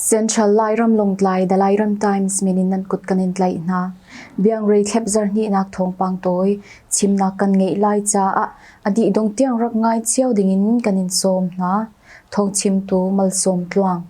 Central Lairam Longtlai The Lairam Times min in nan kut kan in tlai hna. Biang rei thlep zar ni nak thawngpang toi chimnak kan ngei lai caah adi dong tiang rak ngai cio ding in kan in sawm hna. Thong chim tu mal sawm tluang.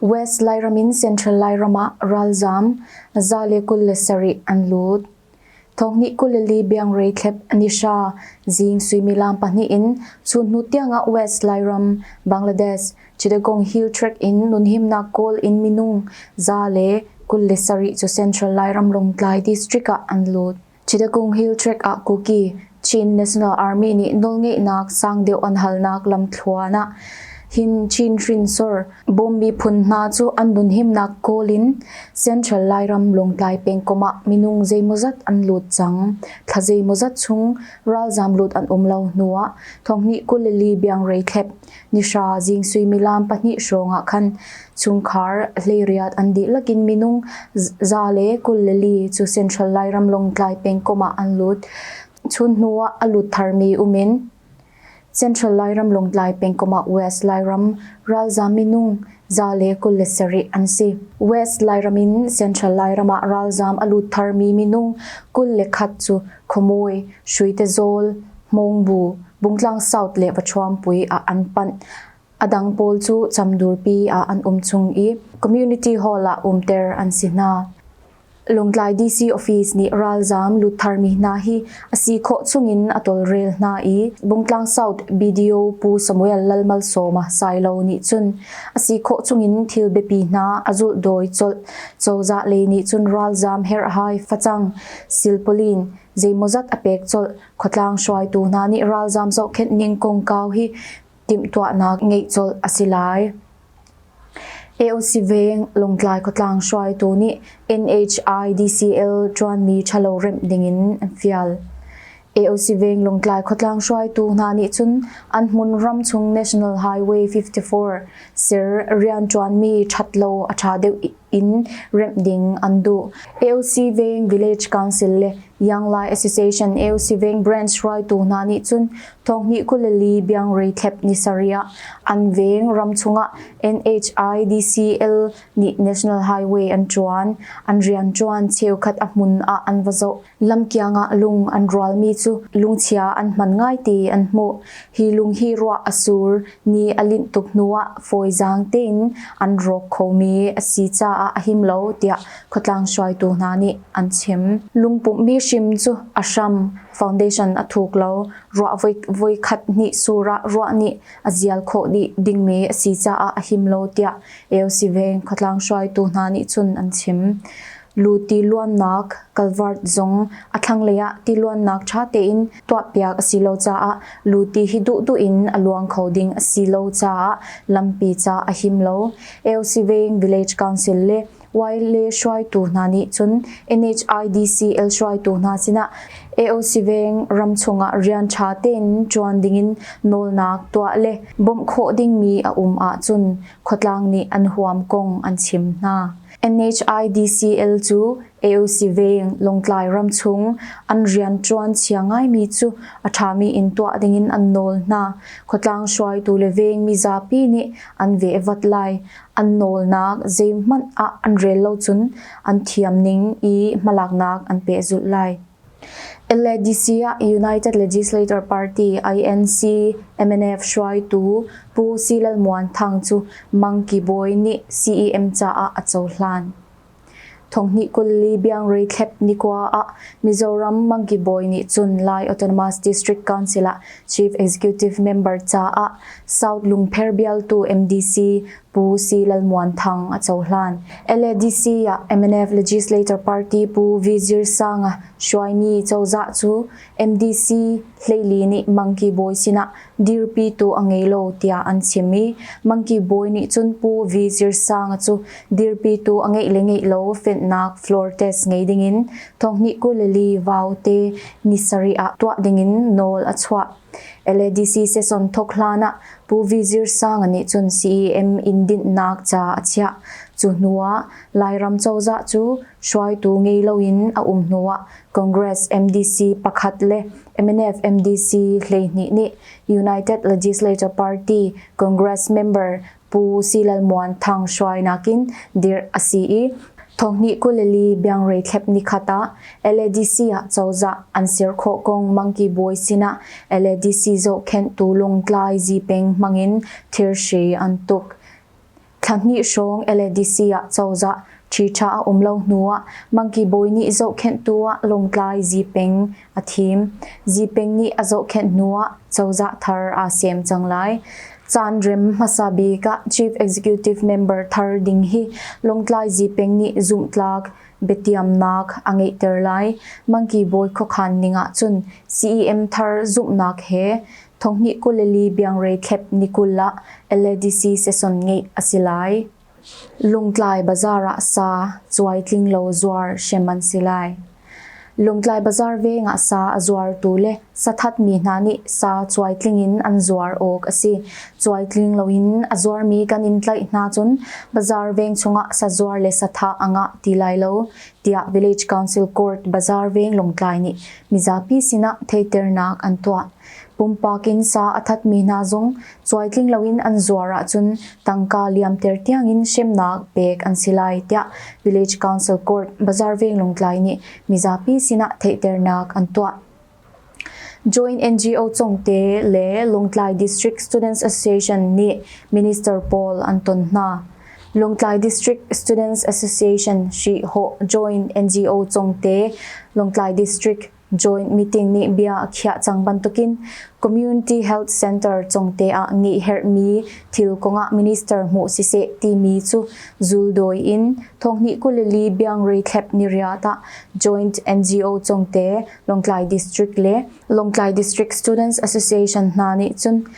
West Lairam in Central Lairam ah ralzaam za le kul le sarih an lut. Thonghnih kul le li biangrei thlep an i hra. Zing suimilam pahnih in chunhnu tiangah West Lairam, Bangladesh, Chittagong Hill Track in nunhimnak kawl in minung za le kul le sarih cu Central Lairam Lawngtlai district ah an lut. Chittagong Hill Tract ah Kuki Chin National Army nih nawlngeihnak sang deuh an halnak lamthluan ah hin Chin hrinsor bawm miphun hna cu an dunhimnak kawl in Central Lairam Lawngtlai pengkom ah minung zeimawzat an lut cang. Tla zeimawzat chung ralzam lut an um lo hnu ah thonghni kulili biang reithlep Nihra zing suimilam pahnih hrawng ah khan chungkhar hleiriat an dihlak in minung za le kul le li cu Central Lairam Lawngtlai pengkomh ah an lut. Chun hnu ah a lut tharmi um in Central Lairam Lawngtlai pengkomh ah West Lairam ralzam minung za le kul le sarih an si. West Lairam in Central Lairam ah ralzam a lut tharmi minung kul le khat cu Khawmui, Hruitezawl, Hmawngbu, Bungtlang South le Pathuampui ah an panh. A dang pawl cu Camdurpi ah an um chung i Community Hall ah umter an si hna. Lungtlai DC office nih ralzaam lut tharmi hna hi a si khawh chungin a tawlrel hna i Bungtlang South BDO Pu Samuel Lalmalsawma Sailo nih cun a si khawh chungin thil biapi hna a zulh dawi colh. Cozah lei nih cun ralzaam herhhai facang Silpauline, zeimawzat a pek colh. Khuatlang hruaitu hna nih ralzam zohkhenh ning kongkau hi timhtuahnak ngeih colh a si lai. AOC Veng Lawngtlai khuatlang hruaitu nih NHI DCL ṭuanmi ṭhalo remh dingin an fial. AOC-Veng Lawngtlai khuatlang hruaitu hna nih cun an hmun ramchung National Highway 54 ser rianṭuanmi ṭhat lo a ṭha deuh in remh ding an duh. AOC-Veng Village Council le Yanglai Association AOC-Veng Branch hruaitu hna nih cun thonghnih kul li biangrei thlep ni sarih ah an veng ramchung ah NHIDCL nih National Highway an ṭuan. An rianṭuan cheukhat a hmun ah an va zoh. Lamkiang ah lung an rualmi cu lungchia an hman ngaite an hmuh. Hi lung hi ruah a sur, ni a linh tuk hnuah fawizaang tein an rawk khomi a si caah a him lo tiah khuatlang hruaitu hna nih an chim. Lungpumhmi hrim cu a hram, foundation, a thuk lo. Ruah voi khat hnih sur ah ruah nih a zial khawh dih dingmi a si caah a him lo tiah AOC Veng khuatlang hruaitu hna nih cun an chim. Lu tiluannak, culvert, zong a thlanglei ah tiluannak ṭha tein tuahpiak a si lo caah lu ti hi duhduh in a luang kho ding a si lo caah lampi ca a him lo. Elsiveng Village Council le YLA hruaitu hna nih cun NHIDC el hruaitu hna sinah Eosiveng ram chungah rian ṭha tein ṭuan dingin nawlnak tuah le bawmh khawh dingmi a um ahcun khuatlang nih an huam kong an chim hna. NHIDCL cu AOC Veng, Lawngtlai ram chung an rianṭuan chia ngaimi cu a ṭhami in tuah dingin an nawl hna. Khuatlang hruaitu le veng mizapi nih an vehvat lai. An nawlnak zeihmanh ah an rel lo cun an thiam ning i hmalaknak an pehzulh lai. LADC ah United Legislature Party INC MNF hruaitu Pu Silalmuan Thang cu Mangki Bawi nih CEM caah a cohlan. Thonghnih kul li biangre thlep nikua ah Mizoram Mangki Bawi nih cun Lai Autonomous District Council ah Chief Executive Member caah South Lungpher bialtu MDC Pu C. Lalmuan Thang a cohlan. LADC ah MNF Legislator Party Pu Vizir Sanga hruaimi cozah cu MDC hleili nih Monkey Bawi sinah dirpitu a ngei lo tiah an chim i Monkey Bawi nih cun Pu Vizir Sanga cu dirpitu a ngeih le ngeih lo fenh-nak floor test ngei dingin thonghnih kuleli vau te ni sarih ah tuah dingin nawl a chuah. LADC sesong thawk hlan ah Pu Vizir Sang nih cun CEM in dinhnak ca a chiah. Cu hnu ah Lairam cozah cu hruaitu ngei loin a um hnu ah Congress MDC pakhat le MNF MDC hleihnih nih United Legislature Party Congress member Pu Silal Muan Thang hruainak in dirh a si i, thonghnih kuleli biangrei thlep nikhat ah LADC ah cozah an ser khawh kong Mangki Bawi sinah LADC zohkhenhtu Lungtlai Zi Peng hmangin thirhri an tuk. Thla hnih hrawng LADC ah cozah ṭhiṭha a um lo hnuah Mangki Bawi nih zohkhenhtu ah Lungtlai Zi Peng a thim. Zipeng nih a zohkhenh hnuah cozah thar aa sem cang lai. Caanrem hmasa bik ah Chief Executive Member thar ding hi Lawngtlai Zipeng nih zumhtlak biatiamnak a ngeihter lai. Mangki bawi khuakhan ning ahcun CEM thar zumhnak he Thonghni kul le li biangrei thlep ni kul ah LADC session ngeih a si lai. Lungtlai bazar ah sa cuaitling lo zuar hrem an si lai. Lungtlai bazar veng ah sa a zuartu le sathatmi hna nih sa cuaitling in an zuar awk a si. Cuaitling loin a zuarmi kan in tlaih hna cun bazar veng chungah sazuar le satha a ngah ti lai lo, tiah Village Council Court Bazar Veng Lungtlai nih mizapi sinah theiternak an tuah. Pumpak in sa a thatmi hna zong cuaitling loin an zuar ahcun tangka liamter tiangin hremnak pek an si lai tiah Village Council Court Bazaar Veng Lungtlai nih mizapi sinah theihternak an tuah. Joint NGO Chongte le Lungtlai District Students Association nih minister pawl an ton hna. Lungtlai District Students Association Shi Ho Joint NGO Chongte, Lungtlai District Joint meeting nih bia a khiah cang bantukin Community Health Center Congte ah ngeihherhmi thil kongah minister hmuh siseh timi cu zuldawi in thonghnih kulili biangrei thlep ni riat ah Joint NGO Congte, Lawngtlai District le Lawngtlai District Students Association hna nih cun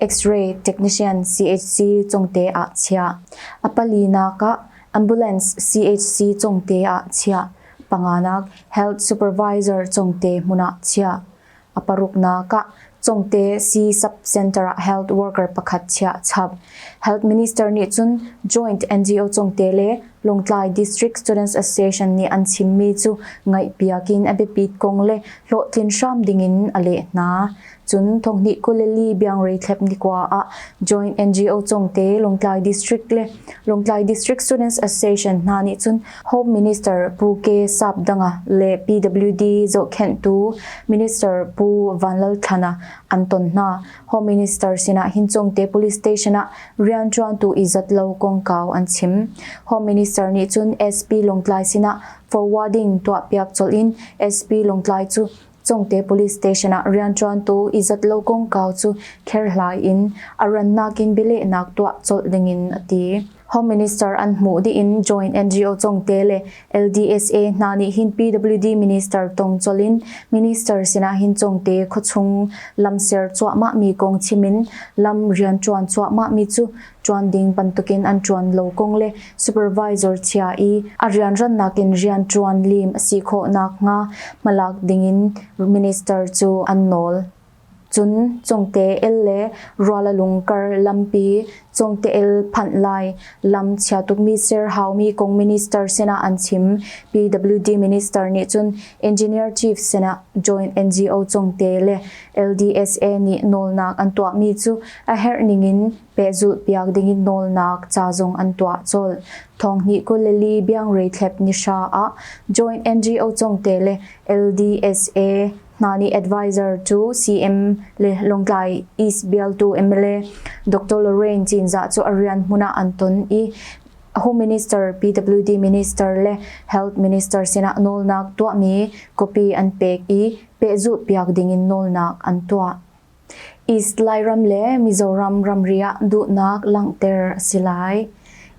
X-ray technician CHC Cungte ah chiah, a palinak ah ambulance CHC Cungte ah chiah, panganak health supervisor Cungte hmun ah chiah, a paruknak ah Cungte C Sub-Center ah health worker pakhat chiah chap. Health Minister nih cun Joint NGO Cungte le Lawngtlai District Students Association nih an chimmi cu ngaihpiak in a biapit kong le hlawhtlin hram ding in a leh hna. Cun thonghnih Kuleli Biangrei Thlep Nikua ah Joint NGO Congte Lawngtlai District le Lawngtlai District Students Association hna nih cun Home Minister Pu Ke Sap Danga le PWD zohkhenhtu Minister Pu Van Lal Thlan ah an ton hna. Home Minister sinah hin Congte Police Station ah rianṭuantu izat lo kongkau an chim. Home Minister nih cun SP Lawngtlai sinah forwarding tuahpiak colh in SP Lawngtlai cu Congte police station ah rianṭuantu i zat lo kongkau cu kherhlai in a rannak in bialehnak tuah colh dingin a ti. Home Minister an hmuh dih in Joint NGO Congte le LDSA hna nih hin PWD Minister tong colh in Minister sinah hin Congte khuachung lam ser cuahmahmi kong chim in lam rianṭuan cuahmahmi cu ṭuan ding bantukin an ṭuan lo kong le supervisor chia i a rianrannak in rianṭuan lim a si khawh nakhnga hmalak dingin minister cu an nawl. Cun Congte-el le Rualalung kar lampi Congte-el phanh lai lam chia tukmi ser haumi kong minister sinah an chim. PWD minister nih cun engineer chief sinah joint NGO Congte le LDSA nih nawlnak an tuahmi cu a herh ningin pehzulhpiak dingin nawlnak ca zong an tuah colh. Thawngnih kul le li biangreithlep nihra ah joint NGO congte le LDSA hna nih advisor cu CM le Lawngtlai East bialtu mla Dr Lorraine Cinzah cu a rian hmun ah an ton i Home Minister, PWD Minister le Health Minister sinah nawlnak tuahmi copy an pek i pehzulhpiak dingin nawlnak an tuah. East Lairam le Mizoram ramri ah duhnak langhter a si lai.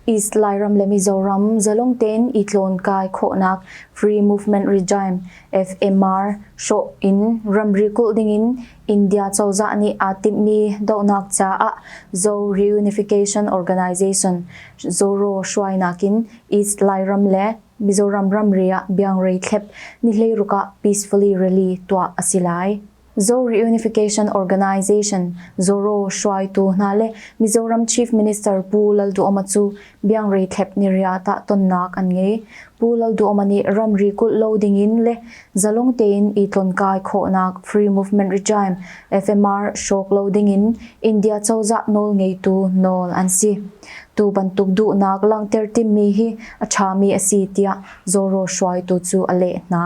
East Lairam le Mizoram zalong tein i tlawnkai khawhnak Free Movement Regime, FMR, hrawh in ramri kulh dingin India cozah nih aa timhmi dohnak caah Zo Reunification Organization, Zoro, hruainak in East Lairam le Mizoram ramri ah biangrei thlep nihleiruk ah peacefully rally tuah a si lai. Zo Reunification Organization, ZORO, hruaitu hna le Mizoram Chief Minister Pu Lalduhoma cu biangrei thlep niriat ah tonnak an ngei. Pu Lalduhoma nih ramri kulh lo dingin le zalong tein i tlonkai khawhnak Free Movement Regime, FMR, hrawk lo dingin India cozah nawl ngeitu nawl an si. Tu bantuk duhnak langhter timhmi hi a ṭhami a si tiah Zawro hruaitu cu a leh hna.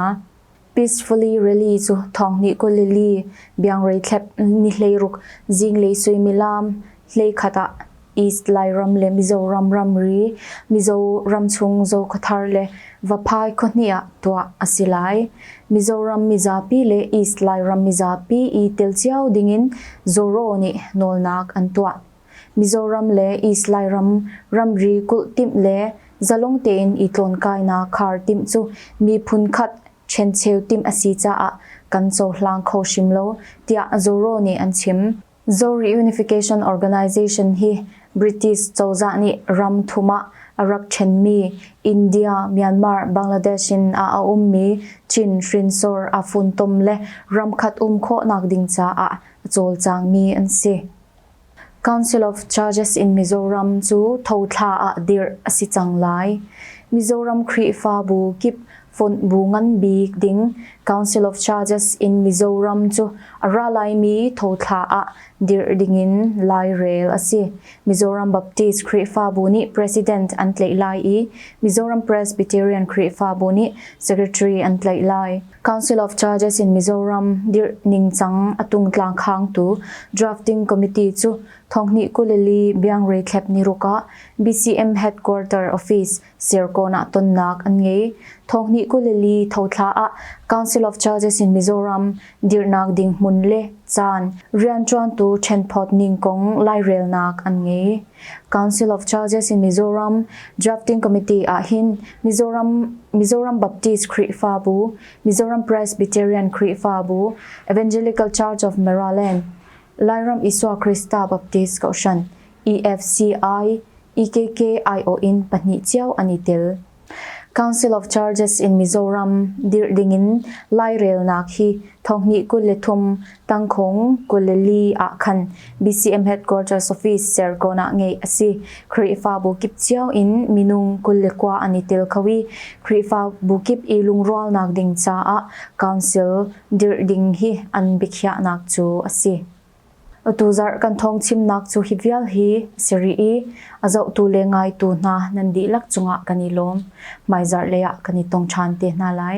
Peacefully Rally cu thawnghnih Galilee biangrei thlep ni hleiruk zinglei suimilam hleikhat ah East Lairam le Mizoram ramri, Mizoram chung Zokhathar le Vaphai khua-hnih ah tuah a si lai. Mizoram mizapi le East Lairam mizapi i tel cio dingin Zawro nih nawlnak an tuah. Mizoram le East Lairam ramri kulh timh le zalong tein i tlawnkainak khar timh cu miphun khat ṭhencheu timh a si caah kan cohlang kho hrim lo, tiah Zoro nih an chim. Zo Reunification Organization hi British cozah nih ram thum ah a rak ṭhenmi India, Myanmar, Bangladesh in ah a ummi Chin hrinsor aa funtom le ram khat um khawhnak ding caah a cawlcangmi an si. Council of Charges in Mizoram cu thothla ah dirh a si cang lai. Mizoram Khrihfabu kip fonh bu ngan bik ding Council of Charges in Mizoram cu a ra laimi thothla ah dirh dingin lairel a si. Mizoram Baptist Khrihfabu nih President an tlaih lai i Mizoram Presbyterian Khrihfabu nih Secretary an tlaih lai. Council of Charges in Mizoram dirh ningcang a tungtlang khangtu Drafting Committee cu thonghnih kuleli biangrei thlep niruk ah BCM Headquarter Office, Serkawn ah tonnak an ngei. Thonghnih kuleli thothla ah Council of Charges in Mizoram dirhnak ding hmun le caan rianṭuantu ṭhenphawt ning kong lairelnak an ngei. Council of Charges in Mizoram Drafting Committee ah hin Mizoram Mizoram Baptist Khrihfabu, Mizoram Presbyterian Khrihfabu, Evangelical Church of Maryland, Lairam Isua Krista Baptist Kohhran, EFCI, EKKIO in pahnih cio an i tel. Council of Churches in Mizoram dirh dingin Lairelnak hi thonghnih kul le thum Tangkhung, Galilee ah khan BCM Headquarters Office Serkawn ah ngeih a si. Khrihfabu kip cio in minung kul le kua an i tel kho i Khrihfabu kip i lungrualnak ding caah Council dirh ding hi an biakhiahnak cu a si. Atu zarh kan thawng chimnak cu hi vial hi a si rih i a zohtu le ngaitu hna nan dihlak cungah kan i lawm. Hmaizarh lei ah kan i tong ṭhan te hna lai.